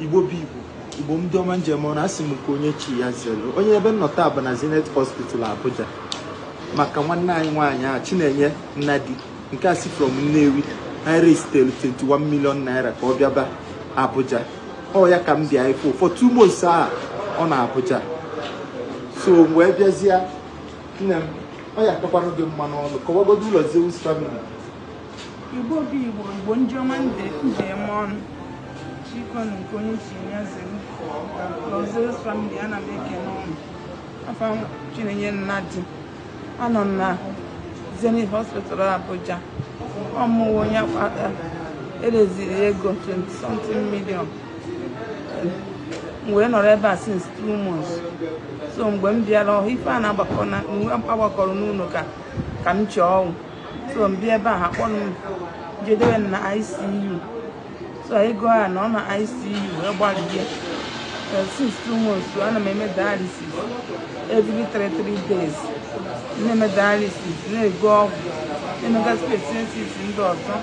Igbo bụ Igbo Igbo ndị ọma nji eme ọnụ asị m nke onye chi ya zelu onye ebe m nọ taa bụ na Zenith Hospital Abuja maka nwanne anyị nwaanyị a Chinenye Nnadi nke a si from Nnewi raisetere 21 million naira ka ọ bịaba Abuja ọ ya ka m bịa ịfụ for two months a ọ na Abuja so wee bịazie nne m ọ ya akakwara gị mma n'ọnụ kọwagodo Lord Zeus family Igbo bụ Igbo, Igbo ndị ọma ndị nji eme ọnụ. Bikonu nke onye chi ya zere Lord Zeus family ana m ekele ụnụ. Afa m Chinenye Nnadi anọ m na Zenith Hospital Abuja. Ọ mụwa onye akpata e raiseri ego 20 something million. wee nọrọ ebe a since two months so mgbe m bịara ọhụụ ife a na-agbakọ na agbakọrọ n'ụlọ ka ka m chọọ ọnwụ so m bịa ebe a ha kpọrọ m jee dewe na ICU so anyị gụọ ya na ọ na ICU wee gbalịa since two months ana m eme dialysis every three three days na-eme dialysis na-ego ọgwụ na-emegasị expenses ndị ọzọ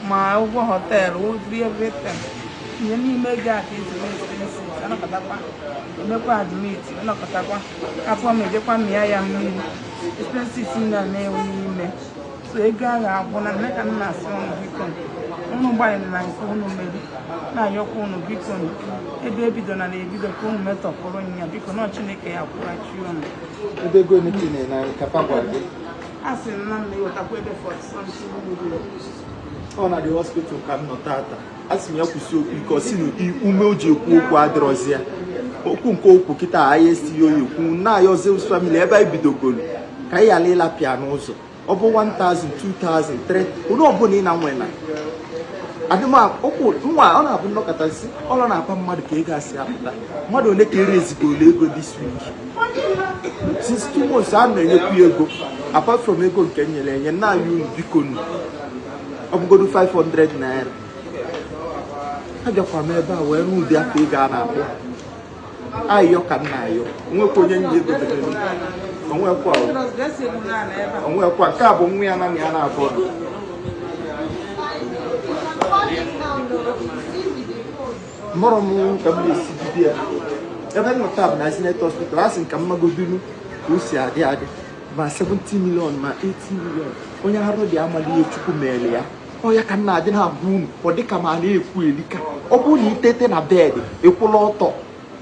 ma ụgwọ họteelụ ụdịrị everything ihe n'ime ego a ka esi mee expenses anọkatakwa emekwa admit anọkatakwa afọ m ejekwa mịa ya mmiri expenses m na na-ewe n'ime so ego ahụ agwụna nne ka m na-asị ụnụ bikonu ụnụ gbalịrị na nke ụnụ mere na-ayọkwa ụnụ bikonu ebe ebidona na ebido ka ụnụ metọpụrụ ya bikonu Chineke ya-akwụghachi ụnụ ebe ego ole ka ị na-enye anyị ka papa gị a sị na m na-ewetakwa ebe 40 something ọ na the hospital ka m nọ tata a sị m ya kwusie okwu ike ọ sị na ume o ji ekwu okwu adịrọzi ya okwu nke o kwu kịta anyị esighị oyi ekwu na-ayọ Lord Zeus family ebe anyị bidogoro ka anyị ghara ịlapụ ya n'ụzọ ọ bụ 1000 2000 3 onye ọbụla ị na-anwe na adịmokwu nwa ọ na-abụ nnọkọtasị ọlọ na-akpa mmadụ ka ego asị apụta mmadụ ole ka e raisegolu ego this week since two months a na-enyekwu ego apart from ego nke nyere enye na-ayọ unu bikonu ọ bụgodu 500 naira abịakwa m ebe a wee rụọ ụdị afọ ego a na-akpọ ayọ ka m na-ayọ onwekwa onye nji ego debere onwekwa onwekwa nke a bụ nwa ya na ya na-abụọ mụrụ m ka m na-esi bido ya ebe m nọ taa bụ na Zenith hospital a sị m ka m magodinu ka o si adị adị ma 70 million ma 80 million onye arụ dị amaghị ihe chukwu mere ya ọ ya ka m na-adị na-agwa unu ọ dịka m na-ekwu elika ọ bụrụ na i teta na bed ị kwụlụ ọtọ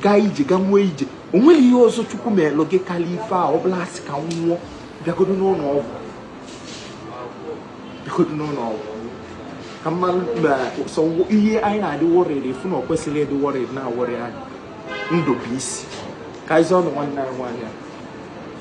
gaa ije gaa nwee ije o nweghị ihe ọzọ chukwu melụ gị karịa ife a ọ bụlụ asị ka m nwụọ bịagodo n'ụlọ ọgwụ bịagodo n'ụlọ ọgwụ ka mmadụ ma sọ ihe anyị na-adị worried fụ na o kwesịrị ịdị worried na-aworry anyị ndụ bụ isi ka anyị zọọ ndụ nwanne anyị nwaanyị a